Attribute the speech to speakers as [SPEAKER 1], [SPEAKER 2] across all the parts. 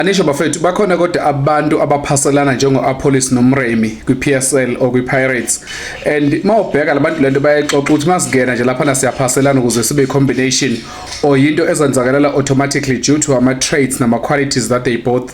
[SPEAKER 1] Anisho bafethu bakhona kodwa abantu abaphaselana njengo-Apollis noMremi kwi-PSL or kwi-Pirates and mawubheka labantu lento bayayixoxa ukuthi masingena nje laphana siyaphaselana ukuze sibe combination or yinto ezenzakalela automatically due to ama traits nama qualities that they both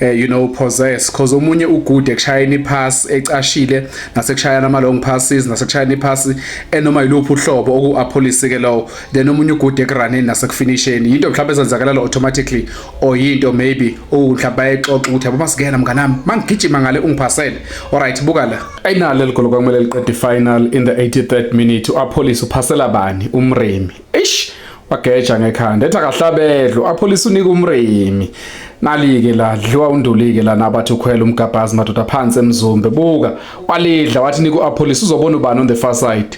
[SPEAKER 1] uh, you know possess because omunye ugude ekushayeni ipass ecashile nasekushayana ama long passes nasekushayana ipass enoma yiluphi uhlobo oku-Apollis ke lowo then omunye ugude ekuraneni nasekufinisheni yinto mhlawumbe ezenzakalela automatically or yinto maybe mhlawumbe bayexoxa ukuthi yabo masingena mnganami mangigijima ngale ungiphasele alright buka la ayinalo leli golo kwakumele liqede ifinal in the 83rd minute uapholisa uphasela bani umremi eish wageja ngekhanda ethi akahlabedlo apholisa unika umremi nalike la dliwa undulike la nabathi ukhwela umgabhazi madoda phansi emzumbe buka walidla wathi nika uapholisa uzobona ubani on the far side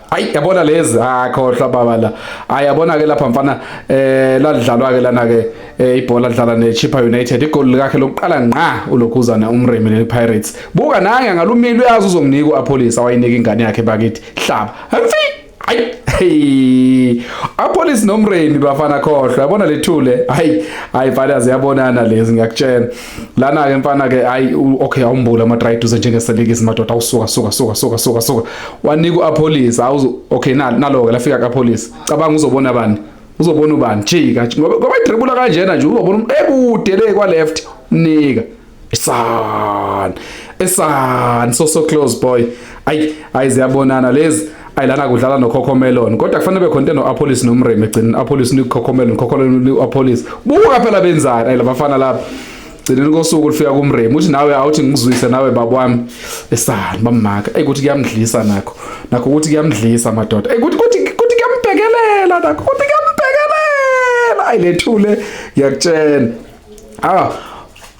[SPEAKER 1] hayi yabona lezi akhohlwa ah, baba la hayi yabona ke lapha mfana eh lalidlalwa ke lana ke eh, ibhola lidlala neChippa United igoli lakhe lokuqala ngqa ulokhuzana umrimi nePirates buka nange ngalumile uyazi uzomnika uApolisa wayinika ingane yakhe bakithi hlaba hayi apolice nomremi bafana khohlwa yabona lethule hayi hayi fanele ziyabonana lezi ngiyakutshela lana ke mfana ke hayi okay awumbula ama try duze njengeselike izimadoda awusuka suka suka suka suka suka wanika a police awuzo okay na nalo ke lafika ka police cabanga uzobona bani uzobona ubani jika ngoba ngoba idribula kanjena nje uzobona ekude le kwa left nika isan esan so so close boy ayi ayi ziyabonana lezi ayi lana kudlala nokhokho melon kodwa kufanele be khona no apolis nomreme egcineni apolis ni khokho melon khokho melon apolis buka phela benzani ayi labafana lapha gcineni kosuku lifika kumreme uthi nawe awuthi ngikuzwise nawe baba wami esani bamaka eyi kuthi kuyamdlisa nakho nakho ukuthi kuyamdlisa madoda eyi kuthi kuthi kuthi kuyambhekelela nakho kuthi kuyambhekelela ayi lethule ngiyakutshena ah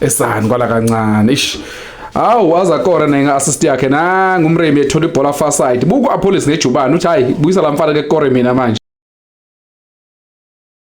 [SPEAKER 1] esani kwala kancane ish Hawu waza kora nenga assist yakhe nangu umremi ethola ibhola far side. Buku Apollos ngejubani uthi hayi buyisa lamfana ke kore mina manje.